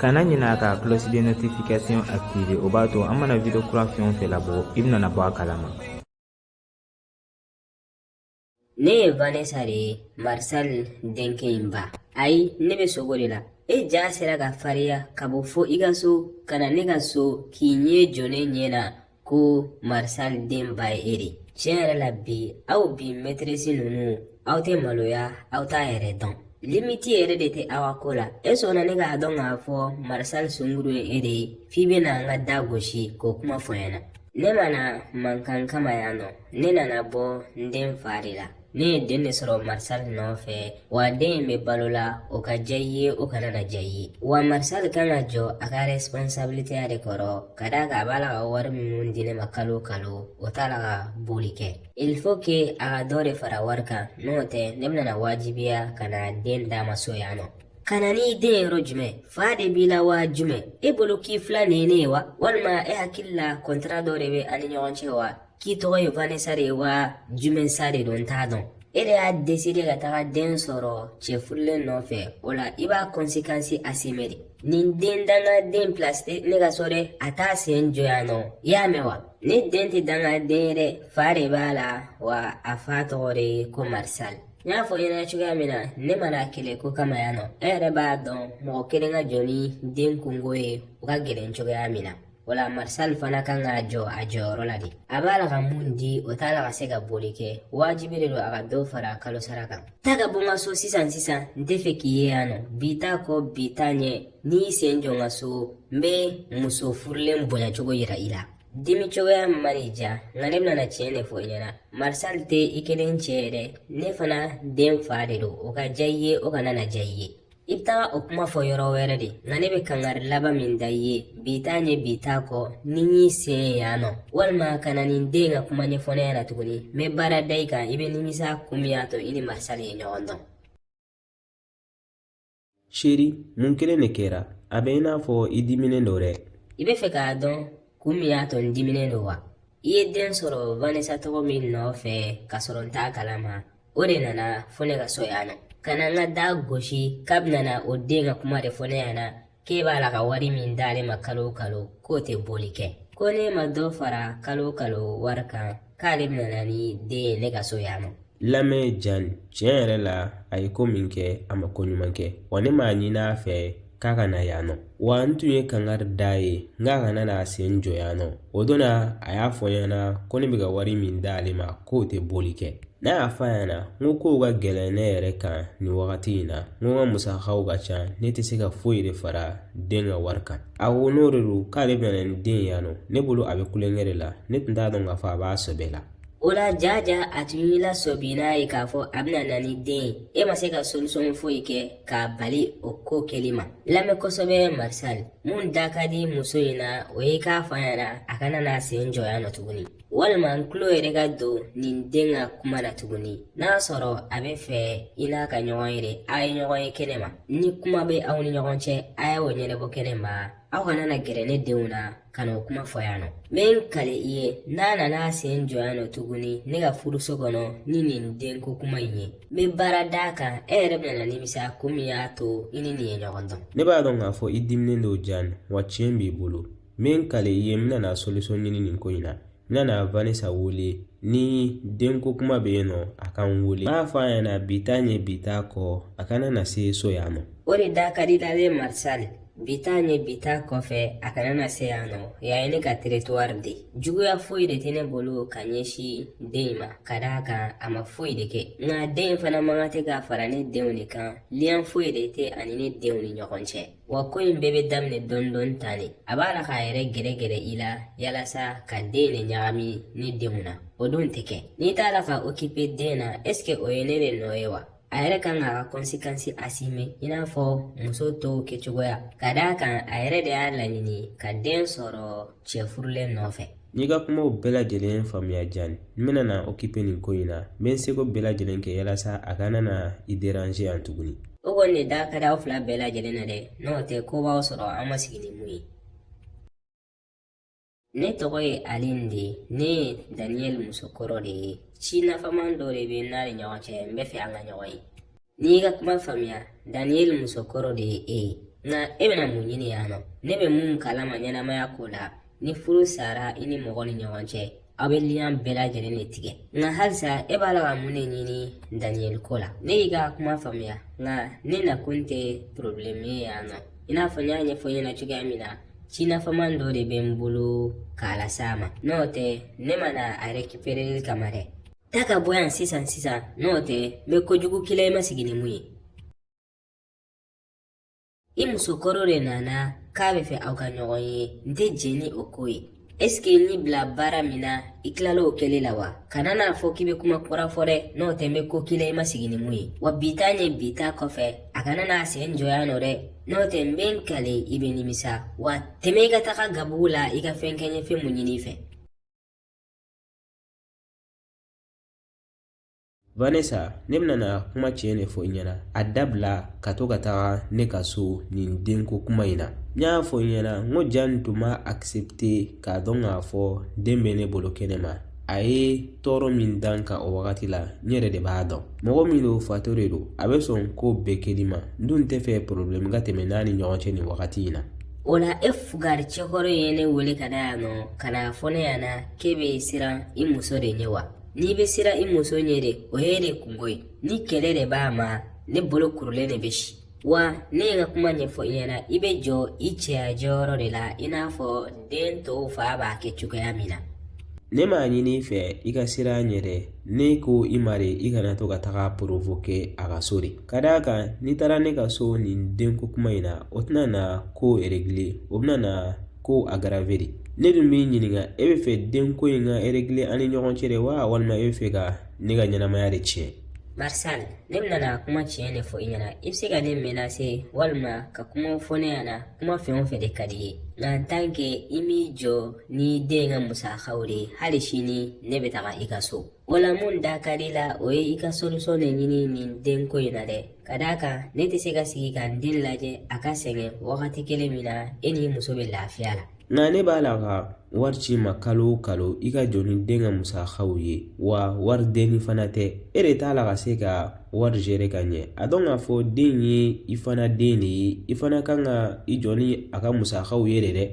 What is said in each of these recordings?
kana ɲinɛ ka cloche de notification activer o b'a to an mana video kura fɛn o fɛn labɔ i bɛna bɔ a kalama ne ye vanessa de ye marisal denkɛ in ba ayi ne bɛ sugo de la e ja sera ka fariya ka bɔ fo i ka so ka na ne ka so k'i ɲɛ jɔ ne ɲɛ na ko marisal denba ye e de tiɲɛ yɛrɛ la bi aw bi mɛtirisi ninnu aw tɛ maloya aw t'aw yɛrɛ dɔn limiti yɛrɛ de tɛ aw ko la e sɔnna ne k'a dɔn k'a fɔ marisal sungurun ye e de ye f'i bɛna n ka da gosi k'o kuma fɔ n ɲɛna ne ma na mankan kama yan nɔ ne nana bɔ n den fa de la Ne ye den de sɔrɔ marisal nɔfɛ wa den in bɛ balo la o ka diya i ye o kana na diya i ye wa marisal kan ka jɔ a ka responsabiliteya de kɔrɔ ka d'a kan a b'a la ka wari minnu di ne ma kalo kalo o t'a la ka bɔli kɛ il faut que a ka dɔ de fara wari kan n'o tɛ ne bɛna na wajibiya ka na den d'a ma so yan nɔ ka na n'i den yɔrɔ jumɛn fa de b'i la wa jumɛn e bolo k'i filan ye ne ye wa walima e hakili la kɔntara dɔ de bɛ an ni ɲɔgɔn cɛ wa k'i tɔgɔ ye vanessa de ye wa jumɛn sa de don n t'a dɔn e de y'a deside ka taga den sɔrɔ cɛ furulen nɔfɛ o la i b'a kɔnsekansi asime de nin den dangaden pilasi tɛ ne ka so dɛ a t'a sen jɔ yan nɔ i y'a mɛn wa ne den tɛ dangaden ye dɛ fa de b'a la wa a fa tɔgɔ de ye ko marisali n y'a fɔ i ɲɛna cogoya min na ne ma na kɛlɛ ko kama yan nɔ e yɛrɛ b'a dɔn mɔgɔ kelen ka jɔ ni den kunko ye o ka gɛlɛn cogoya min na O la marisali fana kan ka jɔ a jɔyɔrɔ la de a b'a la ka mun di o t'a la ka se ka bɔli kɛ wajibi de don a ka dɔ fara a kalo sara kan taa ka bɔ n ka so sisan sisan n tɛ fɛ k'i ye yan nɔ bi t'a kɔ bi t'a ɲɛ n'i y'i sen jɔ n ka so n bɛ muso furulen bonya cogo yira i la dimi cogoya man'i diya nka ne bɛna tiɲɛ de fɔ i ɲɛna marisali tɛ i kelen cɛ ye dɛ ne fana den fa de don o ka diya i ye o kana na diya i ye I bɛ taga o kuma fɔ yɔrɔ wɛrɛ de nka ne bɛ kangari laban min da i ye bi t'a ɲɛ bi t'a kɔ ni n y'i sen ye yan nɔ walima ka na nin den ka kuma ɲɛfɔ ne ɲɛna tuguni n bɛ baara da i kan i bɛ nimisa kun min y'a to i ni marisali ye ɲɔgɔn dɔn seri mun kelen de kɛra a bɛ i n'a fɔ i diminen don dɛ i bɛ fɛ k'a dɔn kun min y'a to n diminen don wa i ye den sɔrɔ vanessa tɔgɔ min nɔfɛ k'a sɔrɔ n t'a kalama o de nana fo ne ka so yan na ka na n ka da gosi k'a bɛna na o den ka kuma de fɔ ne ɲɛna k'e b'a la ka wari min d'ale ma kalo o kalo k'o tɛ bɔli kɛ ko n'e ma dɔ fara kalo o kalo wari kan k'ale bɛna na ni den ye ne ka so yan ma lamɛn jan tiɲɛ yɛrɛ la a ye ko min kɛ a ma ko ɲuman kɛ wa ne m'a ɲini a fɛ k'a kana yan nɔ wa n tun ye kangari d'a ye n k'a kana n'a sen jɔ yan nɔ o don na a y'a fɔ n ɲɛna ko ne bɛ ka wari min d'ale ma k'o tɛ bɔli kɛ n y'a fɔ a ɲɛna n ko kow ka gɛlɛn ne yɛrɛ kan nin wagati in na n ko n ka musakaw ka ca ne tɛ se ka foyi de fara den ka wari kan a ko n'o de don k'ale bɛna na ni den ye yan nɔ ne bolo a bɛ tulonkɛ de la ne tun t'a dɔn k'a fɔ a b'a sɛbɛ la o la deja a tun y'i lasɔmi n'a ye k'a fɔ a bɛna na ni den ye e ma se ka solisɔn foyi kɛ k'a bali o ko kɛli ma lamɛn kosɛbɛ marisali mun da ka di muso in na o ye k'a fɔ a ɲɛna a kana n'a sen jɔ yan nɔ tuguni walima n tulo yɛrɛ ka don nin den ka kuma na tuguni n'a sɔrɔ a bɛ fɛ i n'a ka ɲɔgɔn ye de a ye ɲɔgɔn ye kɛnɛ ma ni kuma bɛ aw ni ɲɔgɔn cɛ a y'o ɲɛnabɔ kɛnɛ ma aw kana na gɛrɛ ne denw na ka n'o kuma fɔ yan nɔ n bɛ n kale i ye n'a nana a sen jɔ yan nɔ tuguni ne ka furuso kɔnɔ ni nin denko kuma in ye n bɛ baara d'a kan e yɛrɛ bɛna na nimisa ko min y'a to i ni nin ye ɲɔgɔn dɔn ne b'a dɔn k'a fɔ i diminnen don jani wa tiɲɛ b'i bolo n bɛ n kale i ye n bɛna na solisɔn ɲini nin ko in na N bɛna na vanesa wele ni den ko kuma bɛ yen nɔ a ka n wele n b'a fɔ a ɲɛna bi t'a ɲɛ bi t'a kɔ a kana na se so yan nɔ o de da ka di a la dɛ marisali bi t'a ɲɛ bi t'a kɔfɛ a kana na se yan nɔ yan ye ne ka teritwari de juguya foyi de tɛ ne bolo ka ɲɛsin den in ma ka d'a kan a ma foyi de kɛ nka den in fana man kan tɛ ka fara ne denw de kan liyan foyi de tɛ a ni ne denw ni ɲɔgɔn cɛ wa ko in bɛɛ bɛ daminɛ dɔɔni dɔɔni tan de a b'a la k'a yɛrɛ gɛrɛgɛrɛ i la yalasa k'a den de ɲagami ne denw na o dun tɛ kɛ ne t'a la ka okipe den na ɛsike o ye ne de nɔ ye wa a yɛrɛ kan k'a ka kɔnsekansi asime i n'a fɔ muso tɔw kɛcogoya ka d'a kan a yɛrɛ de y'a laɲini ka den sɔrɔ cɛ furulen nɔfɛ n y'i ka kumaw bɛɛ lajɛlen faamuya jani n bɛna na okipe nin ko in na n bɛ n seko bɛɛ lajɛlen kɛ yalasa a kana na i deranze yan tuguni o kɔni de da ka di aw fila bɛɛ lajɛlen na dɛ n'o tɛ ko b'aw sɔrɔ an ma sigi ni mun ye ne tɔgɔ ye alin de ye ne ye daniyɛli musokɔrɔ de ye ci nafaman dɔ de bɛ n n'a ni ɲɔgɔn cɛ n bɛ fɛ an ka ɲɔgɔn ye N y'i ka kuma faamuya Daniel musokɔrɔ de ye e ye nka e bɛna mun ɲini yan nɔ ne bɛ mun kala ma ɲɛnamaya ko la ni furu sara i ni mɔgɔ ni ɲɔgɔn cɛ aw bɛ liyan bɛɛ lajɛlen de tigɛ nka halisa e b'a la ka mun de ɲini Daniel ko la ne y'i ka kuma faamuya nka ne nakun tɛ porobilɛmu ye yan nɔ i n'a fɔ n y'a ɲɛfɔ i ɲɛna cogoya min na ci nafama dɔ de bɛ n bolo k'a las'a ma n'o tɛ ne ma na a rekipereli kama dɛ Taa ka bɔ yan sisan sisan n'o tɛ n bɛ kojugu k'i la i ma sigi ni mun ye i muso kɔrɔ de nana k'a bɛ fɛ aw ka ɲɔgɔn ye n tɛ jɛn ni o ko ye ɛseke n y'i bila baara min na i tilala o kɛli la wa kana n'a fɔ k'i bɛ kuma kura fɔ dɛ n'o tɛ n bɛ ko k'i la i ma sigi ni mun ye wa bi ta ɲɛ bi ta kɔfɛ a kana n'a sen jɔ yan nɔ dɛ n'o tɛ n bɛ n kale i bɛ nimisa wa tɛmɛ i ka taga gabugu la i ka fɛn kɛ n ye fɛn mun ɲini i fɛ Vanessa ne bɛna na kuma tiɲɛ de fɔ i ɲɛna a dabila ka to ka taga ne ka so nin denko kuma in na n y'a fɔ i ɲɛna n ko Jani tun ma akisɛpite k'a dɔn k'a fɔ den bɛ ne bolo kɛnɛ ma a ye tɔɔrɔ min da n kan o wagati la n yɛrɛ de b'a dɔn mɔgɔ min don fato de don a bɛ sɔn ko bɛɛ kɛli ma n dun tɛ fɛ porobilɛmu ka tɛmɛ n'a ni ɲɔgɔn cɛ nin wagati in na o la e fugari cɛkɔrɔ ye ne wele ka na yan nɔ ka n'a fɔ ne ɲɛna k'e bɛ siran i muso de ɲɛ wa n'i bɛ siran i muso ɲɛ de o y'e de kunko ye ni kɛlɛ de b'a ma ne bolo kurulen de bɛ si wa ne ye n ka kuma ɲɛfɔ i ɲɛna i bɛ jɔ i cɛya jɔyɔrɔ de la i n'a fɔ den tɔw fa b'a kɛ cogoya min na ne m'a ɲini i fɛ i ka siran a ɲɛ dɛ ne ko i ma de i kana to ka taga porovoke a ka so de ka d'a kan n'i taara ne ka so nin denko kuma in na o tɛna na ko eregile o bɛna na ko agarave de ne dun b'i ɲininka e bɛ fɛ den ko in ka eregile an ni ɲɔgɔn cɛ de wa walima e bɛ fɛ ka ne ka ɲɛnamaya de tiɲɛ Marsan, ne bɛna na kuma tiɲɛ de fɔ i ɲɛna i bɛ se ka ne menase walima ka kuma fɔ ne ɲɛna kuma fɛn o fɛn de ka di i ye nka tan ke i m'i jɔ ni den ka musakaw de ye hali sini ne bɛ taga i ka so o la mun da ka di i la o ye i ka solisɔn de ɲini nin denko in na dɛ Ka d'a kan ne tɛ se ka sigi ka n den lajɛ a ka sɛgɛn wagati kelen min na e ni i muso bɛ lafiya la nka ne b'a la ka wari ci i ma kalo o kalo i ka jɔ ni den ka musakaw ye wa wari denni fana tɛ e de t'a la ka se ka wari zere ka ɲɛ a dɔn k'a fɔ den ye i fana den de ye i fana kan ka i jɔ ni a ka musakaw ye de dɛ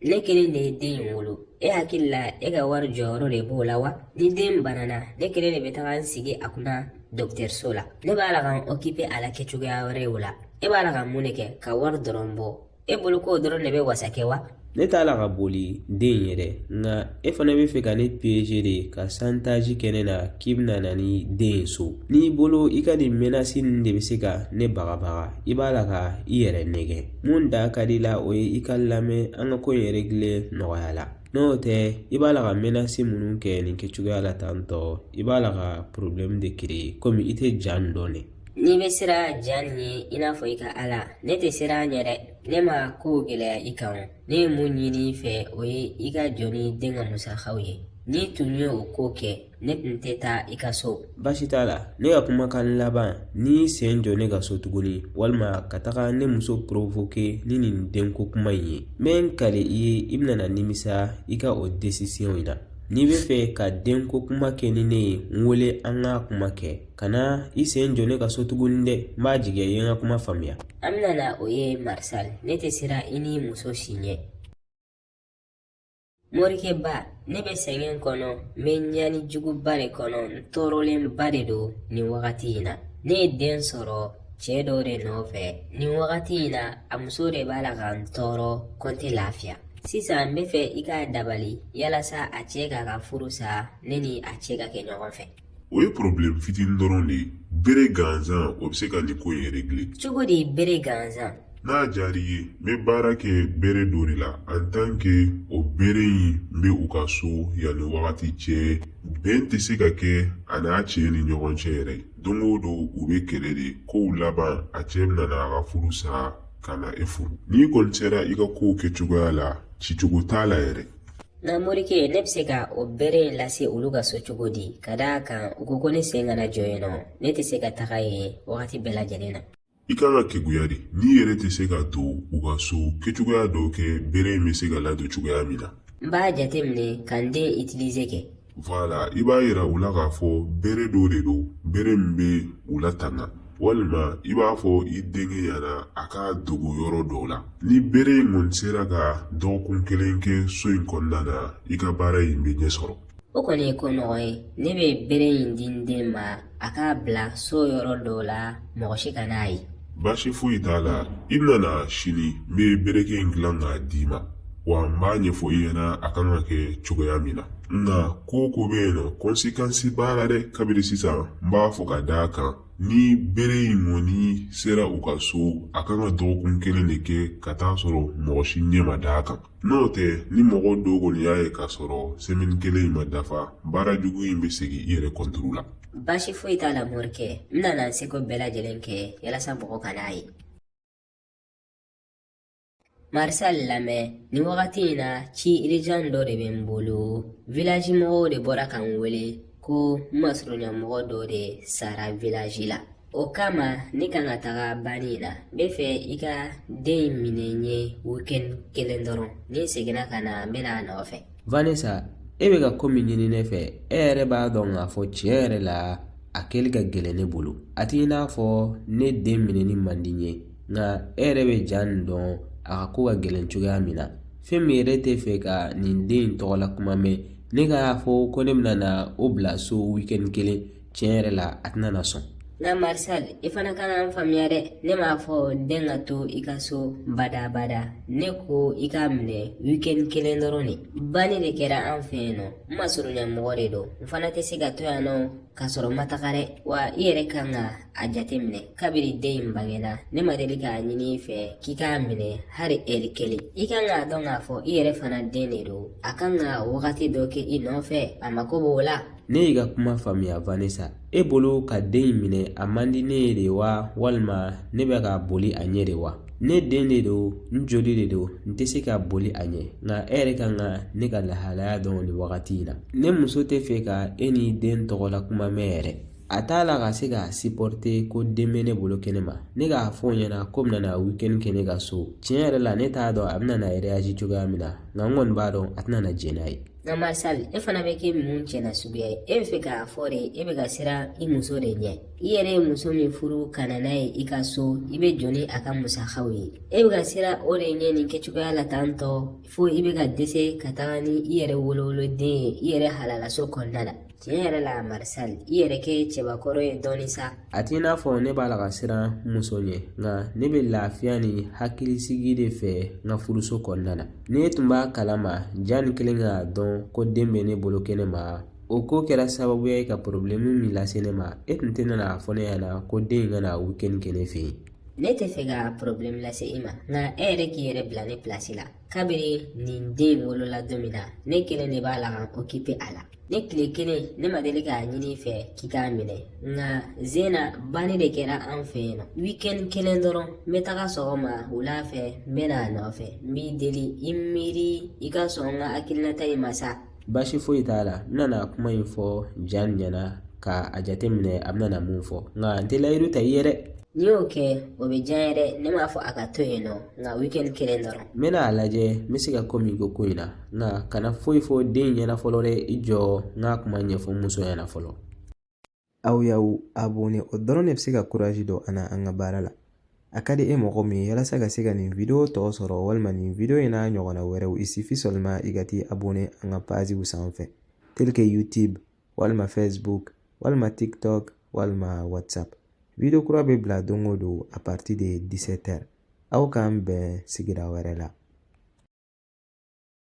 ne kelen de ye den in wolo e hakili la e ka wari jɔyɔrɔ de b'o la wa ni den banana ne kelen de bɛ taga n sigi a kunna dɔgɔtɔrɔso la ne b'a la ka n okipe a la kɛcogoya wɛrɛ ye o la e b'a la ka mun de kɛ ka wari dɔrɔn bɔ e bolo k'o dɔrɔn de bɛ wasa kɛ wa ne t'a la ka boli den in ɲɛ dɛ nka e fana bɛ fɛ ka ne piyeje de ka santaji kɛ ne na k'i bɛna na ni den ye so n'i bolo i ka nin mɛnasi ninnu de bɛ se ka ne bagabaga i b'a la ka i yɛrɛ nɛgɛn mun da ka di i la o ye i ka lamɛn an ka ko in eregile nɔgɔya la n'o tɛ i b'a la ka mɛnasi minnu kɛ nin kɛcogoya la tan tɔ i b'a la ka porobilɛmu de kere komi i tɛ Jani dɔn de n'i bɛ siran Jani ɲɛ i n'a fɔ i ka Ala ne tɛ siran a ɲɛ dɛ ne ma ko gɛlɛya i kan ne ye mun ɲini i fɛ o ye i ka jɔ ni den ka musakaw ye n'i tun ye o ko kɛ ne tun tɛ taa i ka so baasi t'a la ne ka kumakan laban n'i sen jɔ ne ka so tuguni walima ka taga ne muso porovoke ni nin denko kuma in ye n bɛ n kali i ye i bɛna nimisa i ka o desisiyɔn in na n'i bɛ fɛ ka denko kuma kɛ ni ne ye n wele an ka kuma kɛ kana i sen jɔ ne ka so tuguni dɛ n b'a jigiya i ye n ka kuma faamuya an bɛna na o ye marisali ne tɛ siran i ni muso si ɲɛ morikɛba ne bɛ sɛgɛn kɔnɔ n bɛ ɲani juguba de kɔnɔ n tɔɔrɔlenba de don nin wagati in na ne ye den sɔrɔ cɛ dɔ de nɔfɛ nin wagati in na a muso de b'a la ka n tɔɔrɔ ko n tɛ lafiya sisan n bɛ fɛ i k'a dabali yalasa a cɛ k'a ka furu sa ne ni a cɛ ka kɛ ɲɔgɔn fɛ o ye porobilɛmu fitinin dɔrɔn de ye bere gansan o bɛ se ka nin ko in regile cogo di bere gansan n'a diyar'i ye n bɛ baara kɛ bere dɔ de la an tan ke o bere in bɛ u ka so yanni wagati cɛ bɛn tɛ se ka kɛ a n'a cɛ ni ɲɔgɔn cɛ yɛrɛ don o don u bɛ kɛlɛ de ko laban a cɛ bɛna n'a ka furu sa ka na e furu n'i kɔni sera i ka kow kɛcogoya la cicogo t'a la yɛrɛ Nka morikɛ ne bɛ se ka o bere in lase olu ka so cogo di ka d'a kan u ko ko ne sen kana jɔ yen nɔ ne tɛ se ka taga yen wagati bɛɛ lajɛlen na i kan ka keguya de n'i yɛrɛ tɛ se ka don u ka so kɛcogoya dɔ kɛ bere in bɛ se ka ladon cogoya min na n b'a jateminɛ ka n den itilize kɛ Wala i b'a jira u la k'a fɔ bere dɔ de don bere min bɛ u latanga walima i b'a fɔ i denkɛ ɲɛna a k'a dogo yɔrɔ dɔ la ni bere in kɔni sera ka dɔgɔkun kelen kɛ so in kɔnɔna na i ka baara in bɛ ɲɛ sɔrɔ o kɔni ye ko nɔgɔ ye ne bɛ bere in di n den ma a k'a bila so yɔrɔ dɔ la mɔgɔ si kan'a ye baasi foyi t'a la i bɛna na sini n bɛ bereke in dilan k'a d'i ma wa n b'a ɲɛfɔ i ɲɛna a kan ka kɛ cogoya min na nka ko ko bɛ yen nɔ kɔnsekansi b'a la dɛ kabiri sisan n b'a fɔ ka d'a kan ni bere in kɔni sera u ka so a kan ka dɔgɔkun kelen de kɛ ka tag'a sɔrɔ mɔgɔ si ɲɛ ma d'a kan N'o tɛ ni mɔgɔ dɔ kɔni y'a ye k'a sɔrɔ semini kelen in ma dafa baara jugu in bɛ segin i yɛrɛ kɔnturu la baasi foyi t'a la morikɛ n nana n seko bɛɛ lajɛlen kɛ yalasa mɔgɔ kana a ye marisal lamɛn nin wagati in na ci irijan dɔ de bɛ n bolo vilaji mɔgɔw de bɔra ka n wele ko n masurunya mɔgɔ dɔ de sara vilaji la O kama ne kan ka taga banni la n bɛ fɛ i ka den in minɛ n ye weekend kelen dɔrɔn ni n seginna ka na n bɛ na a nɔfɛ vanessa e bɛ ka ko min ɲini ne fɛ e yɛrɛ b'a dɔn k'a fɔ tiɲɛ yɛrɛ la a kɛli ka gɛlɛn ne bolo a t'i n'a fɔ ne den minɛni man di n ye nka e yɛrɛ bɛ jani dɔn a ka ko ka gɛlɛn cogoya min na fɛn min yɛrɛ tɛ fɛ ka nin den in tɔgɔla kuma mɛn ne k'a fɔ ko ne bɛna na o bila so weekend kelen tiɲɛ yɛrɛ la a tɛna na sɔn nka marisal i fana kan ka n faamuya dɛ ne m'a fɔ den ka to i ka so badabada ne ko i k'a minɛ wikɛni kelen dɔrɔn de banni de kɛra an fɛ yen nɔ n masurunya mɔgɔ de don n fana tɛ se ka to yan nɔ k'a sɔrɔ n ma taga dɛ wa i yɛrɛ kan ka a jate minɛ kabiri den in bangena ne ma deli k'a ɲini i fɛ k'i k'a minɛ hali ɛri kelen i kan k'a dɔn k'a fɔ i yɛrɛ fana den de don a kan ka wagati dɔ kɛ i nɔfɛ a mako b'o la ne y'i ka kuma faamuya vanessa e bolo ka den in minɛ a man di ne ye de wa walima ne bɛ ka boli a ɲɛ de wa ne den de don n joli de don n tɛ se ka boli a ɲɛ nka e yɛrɛ kan ka ne ka lahalaya dɔn nin wagati in na ne muso tɛ fɛ ka e ni den tɔgɔla kuma mɛn yɛrɛ a t'a la ka se ka sipɔrite ko den bɛ ne bolo kɛnɛ ma ne k'a fɔ o ɲɛna k'o bɛna na wikɛni kɛ ne ka so tiɲɛ yɛrɛ la ne t'a dɔn a bɛna na reyazi cogoya min na nka n kɔni b'a dɔn a tɛna na jɛn n'a ye Nka marisali e fana bɛ kɛ mun cɛ nasuguya ye e bɛ fɛ k'a fɔ de e bɛ ka siran i muso de ɲɛ i yɛrɛ ye muso min furu ka na n'a ye i ka so i bɛ jɔ ni a ka musakaw ye e bɛ ka siran o de ɲɛ nin kɛcogoya la tan tɔ fo i bɛ ka dɛsɛ ka taga ni i yɛrɛ wolowoloden ye i yɛrɛ halalaso kɔnɔna la tiɲɛ yɛrɛ la marisal i yɛrɛ kɛ cɛbakɔrɔ ye dɔɔnin sa a t'i n'a fɔ ne b'a la ka siran muso ɲɛ nka ne bɛ lafiya ni hakilisigi de fɛ n ka furuso kɔnɔna na ne tun b'a kalama jani kɛlen k'a dɔn ko den bɛ ne bolo kɛnɛ ma o ko kɛra sababuya ye ka porobilɛmu min lase ne ma e tun tɛna n'a fɔ ne ɲɛna ko den in ka na wikɛni kɛ ne fɛ yen ne tɛ fɛ ka porobilɛmu lase i ma nka e yɛrɛ k'i yɛrɛ bila ne pilasi la kabiri nin den wolola don min na ne kelen de b'a la ka n okipe a la ne tile kelen ne ma deli k'a ɲini i fɛ k'i k'a minɛ nka zena banni de kɛra an fɛ yen nɔ wikɛni kelen dɔrɔn n bɛ taga sɔgɔma wula fɛ n bɛ n'a nɔfɛ n b'i deli i miiri i ka sɔn n ka hakilinata in ma sa Baasi foyi t'a la n bɛna na kuma in fɔ jani ɲɛna ka a jateminɛ a bɛna mun fɔ nka n tɛ layidu ta i ye dɛ n'i y'o kɛ o bɛ diya n ye dɛ ne m'a fɔ a ka to yen nɔ nka weekend kelen dɔrɔn n bɛna a lajɛ n bɛ se ka ko min kɛ ko in na nka kana foyi fɔ den in ɲɛna fɔlɔ dɛ i jɔ n ka kuma ɲɛfɔ muso ɲɛna fɔlɔ aw y'aw abonné o dɔrɔn de bɛ se ka kurazi don an na an ka baara la a ka di e mɔgɔ min ye walasa ka se ka nin video tɔ sɔrɔ walima nin video in n'a ɲɔgɔnna wɛrɛw il suffit seulement i ka t'i abonné an ka paziw sanfɛ tel que youtube walima facebook walima tiktok walima whatsapp video kura bɛ bila don o don à partir de 17 heures aw k'an bɛn sigira wɛrɛ la